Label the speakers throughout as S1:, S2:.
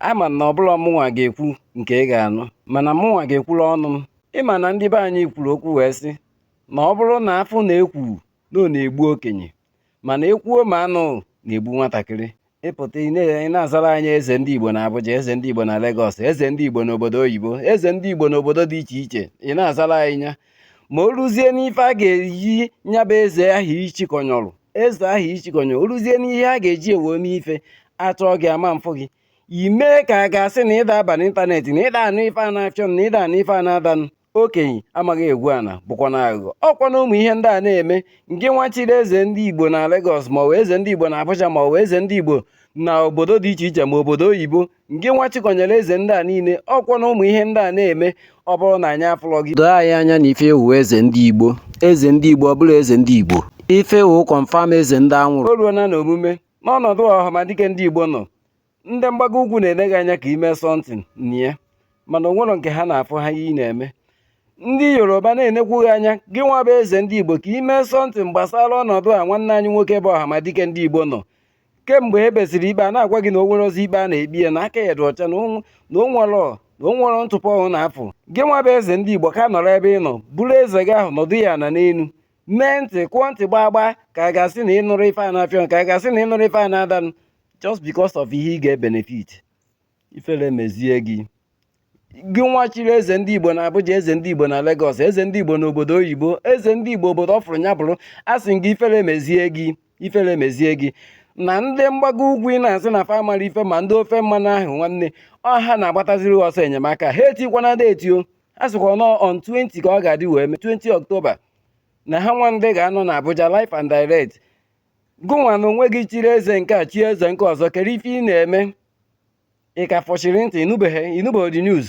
S1: ama m na ọ bụrọ mụnwa ga-ekwu nke ị ga-anụ mana mụnwa ga-ekwuru ọnụ m ị ma na ndị be anyị kwuru okwu wee sị na ọ bụrụ na afụ na ekwu na ọ na-egbu okenye mana ekwuo ma anụ na-egbu nwatakịrị ị pụta ị na-azara anyị eze ndị Igbo na Abuja eze ndị Igbo na Legọs eze ndị Igbo n'obodo oyibo eze ndị Igbo n'obodo dị iche iche ị na-azara anyị ya ma o ruzie n'ife a ga-eji ya bụ eze ahụ ichikọnyọrọ eze ahụ ichikọnyọrọ o ruzie n'ihe a ga-eji wee mee ife a chọọ gị a ma afụ gị i mee ka a ga-asị na ịda aba n'ịntanetị na ịda anụ ife a na-achọ na ịda anụ ife a na-adanụ okenye amaghị egwu ana bụkwa na aghụghọ ọkwa na ụmụ ihe ndị a na-eme ngị nwa chiri eze ndị igbo na Lagos ma ọ bụ eze ndị igbo na Abuja ma ọ bụ eze ndị igbo na obodo dị iche iche ma obodo oyibo ngị nwa chikọnyere eze ndị a niile ọkwa na ụmụ ihe ndị a na-eme ọ bụrụ na anyị afụlọ gị doo anyị anya na ife ị wụ eze ndị igbo eze ndị igbo ọ bụla eze ndị igbo ife ị wụ confirm eze ndị anwụrụ o ruo na na omume n'ọnọdụ ọhamadike ndị igbo nọ ndị mgbago ugwu na-ele gị anya ka i mee something na ya mana o nwerọ nke ha na-afụ ha ihe ị na-eme ndị yoruba na-enekwu gị anya gị nwa bụ eze ndị igbo ka i mee something gbasara ọnọdụ a nwanne anyị nwoke bụ ọhamadike ndị igbo nọ kemgbe e kpesịrị ikpe a na-agwa gị na o nwerọzi ikpe a na-ekpe ya na aka ya dị ọcha na o nwerọ na o nwerọ ntụpọ ọbụna a fụrụ gị nwa bụ eze ndị igbo ka nọrọ ebe ị nọ bụrụ eze gị ahụ nọdụ ya na n'elu mee ntị kụọ ntị gbaa gbaa ka a ga-asị na ị nụrọ ife a na-afịọ ka a ga-asị na ị nụrọ ife a na-adanụ just because of ihe ị ga-ebenefit ifere mezie gị gị nwa chiri eze ndị igbo na abuja eze ndị igbo na legọs eze ndị igbo na obodo oyibo eze ndị igbo obodo ọfụrụ ya bụrụ a sị gị ifere mezie gị ifere mezie gị na ndị mgbago ugwu ị na-asị na fa amarọ ife ma ndị ofe mmanụ ahụ nwanne ọ ha na-agbataziri ọsọ enyemaka ha etikwana date o a sịkwa na ọ on 20 ka ọ ga-adị wee mee 20 ọktoba na ha nwa ndị ga-anọ na Abuja live and direct gụnwa na onwe gị chiri eze nke a chie eze nke ọzọ kere ife ị na-eme ị ka fọchiri ntị ị nụbeghị ị nụbeghị the news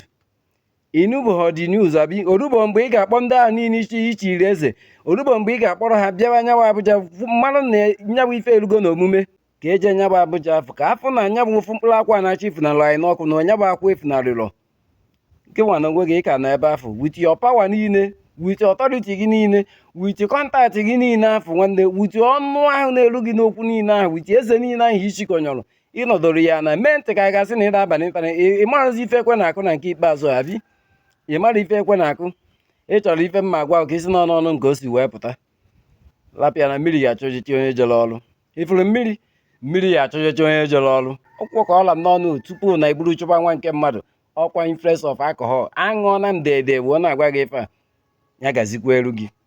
S1: ị nụbeghị the news abi orubo mgbe ị ga-akpọ ndị ahụ niile i chi i chiri eze orubo mgbe ị ga-akpọrọ ha bịawa nyawụ abuja mara na nyawụ ife erugo na omume ka e jee nyabụ abuja afụ ka a fụ na nyabụ ofu mkpụrụ akwụ a na-achọ ifunalụ anyị n'ọkụ na nyabụ akwụ efunarịrọ gịnwa na onwe gị ka nọ ebe afụ with your power niile with authority gị niile with contact gị niile afụ nwanne with ọnụ ahụ na-eru gị n'okwu niile ahụ with eze niile ahụ ichikọnyọrọ ị nọdụrụ ya na mee ntị ka a ga-asị na ị na-aba n'ịntanetị ị marọzi ife ekwe na-akụ na nke ikpeazụ abi ị mara ife ekwe na-akụ ị chọrọ ife mma agwa ka i si n'ọnụ ọnụ nke o si wee pụta lapịa na mmiri ga-achọ ojiji onye jere ọrụ ị fụrụ mmiri mmiri ya achọjọcha onye jere ọrụ ọkwụkwọ ka ọla m n'ọnụ tupu na e buru chọba nwa nke mmadụ ọkwa influence of alcohol aṅụọna m dede wee na-agwa gị ife a ya gazikwaalụ gị